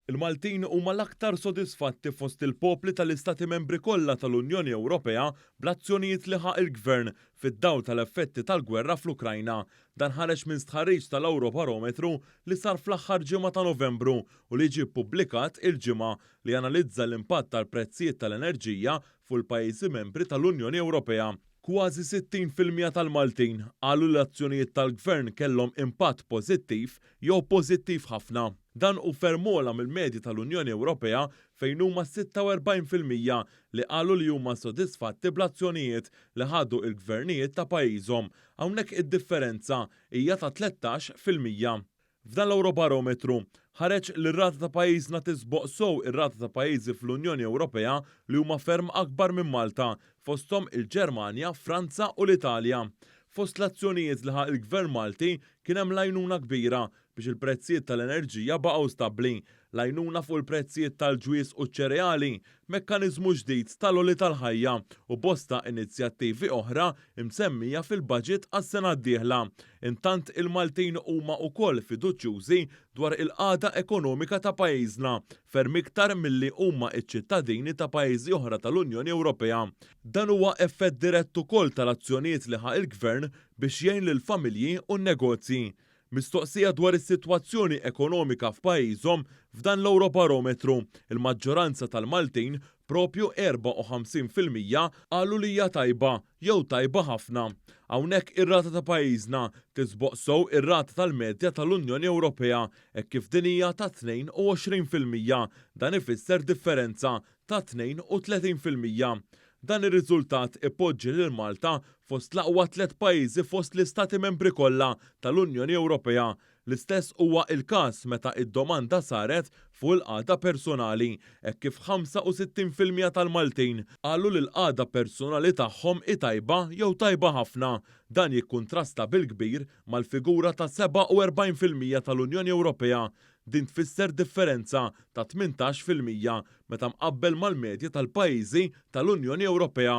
Il-Maltin huma l-aktar sodisfatti fost il-popli tal-Istati Membri kollha tal-Unjoni Ewropea bl-azzjonijiet li ħa il-Gvern fid-dawl tal-effetti tal-gwerra fl-Ukrajna. Dan ħareġ minn stħarriġ tal-Ewrobarometru li sar fl-aħħar ġimgħa ta' Novembru u li ġie ppubblikat il-Ġimgħa li analizza l-impatt tal-prezzijiet tal-enerġija fuq il-pajjiżi membri tal-Unjoni Ewropea. Kważi sittin fil-mija tal-Maltin qalu li l-azzjonijiet tal-Gvern kellhom impatt pożittiv jew pożittiv ħafna. Dan hu ferm ogħla mill-medja tal-Unjoni Ewropea fejn huma sitta u erbgħin fil-mija li qalu li huma sodisfatti bl-azzjonijiet li ħadu il-Gvernijiet ta' pajjiżhom. Hawnhekk id-differenza hija ta' tlettax fil-mija. F'dan l-Ewrobarometru, ħareġ li r-rata ta' pajjiżna tisboq sew ir-rata ta' pajjiżi fl-Unjoni Ewropea li huma ferm akbar minn Malta, fosthom il-Ġermanja, Franza u l-Italja. Fost l-azzjonijiet li ħa l-Gvern Malti kien hemm l-għajnuna kbira biex il-prezzijiet tal-enerġija baqgħu stabbli, l-għajnuna fuq il-prezzijiet tal-ġwież u ċ-ċereali, mekkaniżmu ġdid tal-għoli tal-ħajja u bosta inizjattivi oħra msemmija fil-baġit għas-sena d-dieħla. Intant il-Maltin huma wkoll fiduċjużi dwar il-qagħda ekonomika ta' pajjiżna, ferm iktar milli huma ċ-ċittadini ta' pajjiżi oħra tal-Unjoni Ewropea. Dan huwa effett dirett ukoll tal-azzjonijiet li ħa l-Gvern biex jgħin lill-familji u n-negozji. Mistoqsija dwar is-sitwazzjoni ekonomika f'pajjiżhom f'dan l-Ewrobarometru, il-maġġoranza tal-Maltin, proprju 54 fil-mija, qalu li hija tajba jew tajba ħafna. Hawnhekk ir-rata ta' pajjiżna tisboq sew ir-rata tal-medja tal-Unjoni Ewropea hekk kif din hija ta' 22 fil-mija. Dan ifisser differenza ta' 32 fil-mija. Dan ir-riżultat ipoġġi lil Malta fost l-aqwa tliet pajjiżi fost l-Istati Membri kollha tal-Unjoni Ewropea. L-istess huwa il-każ meta d-domanda saret fuq il-qagħda persunali hekk kif 65 fil-mija tal-Maltin qalu li l-qagħda persunali tagħhom hi tajba jew tajba ħafna. Dan jikkuntrasta bil-kbir mal-figura ta' 47 fil-mija tal-Unjoni Ewropea Din tfisser differenza ta' tmintax fil-mija meta mqabbel mal-medja tal-pajjiżi tal-Unjoni Ewropea.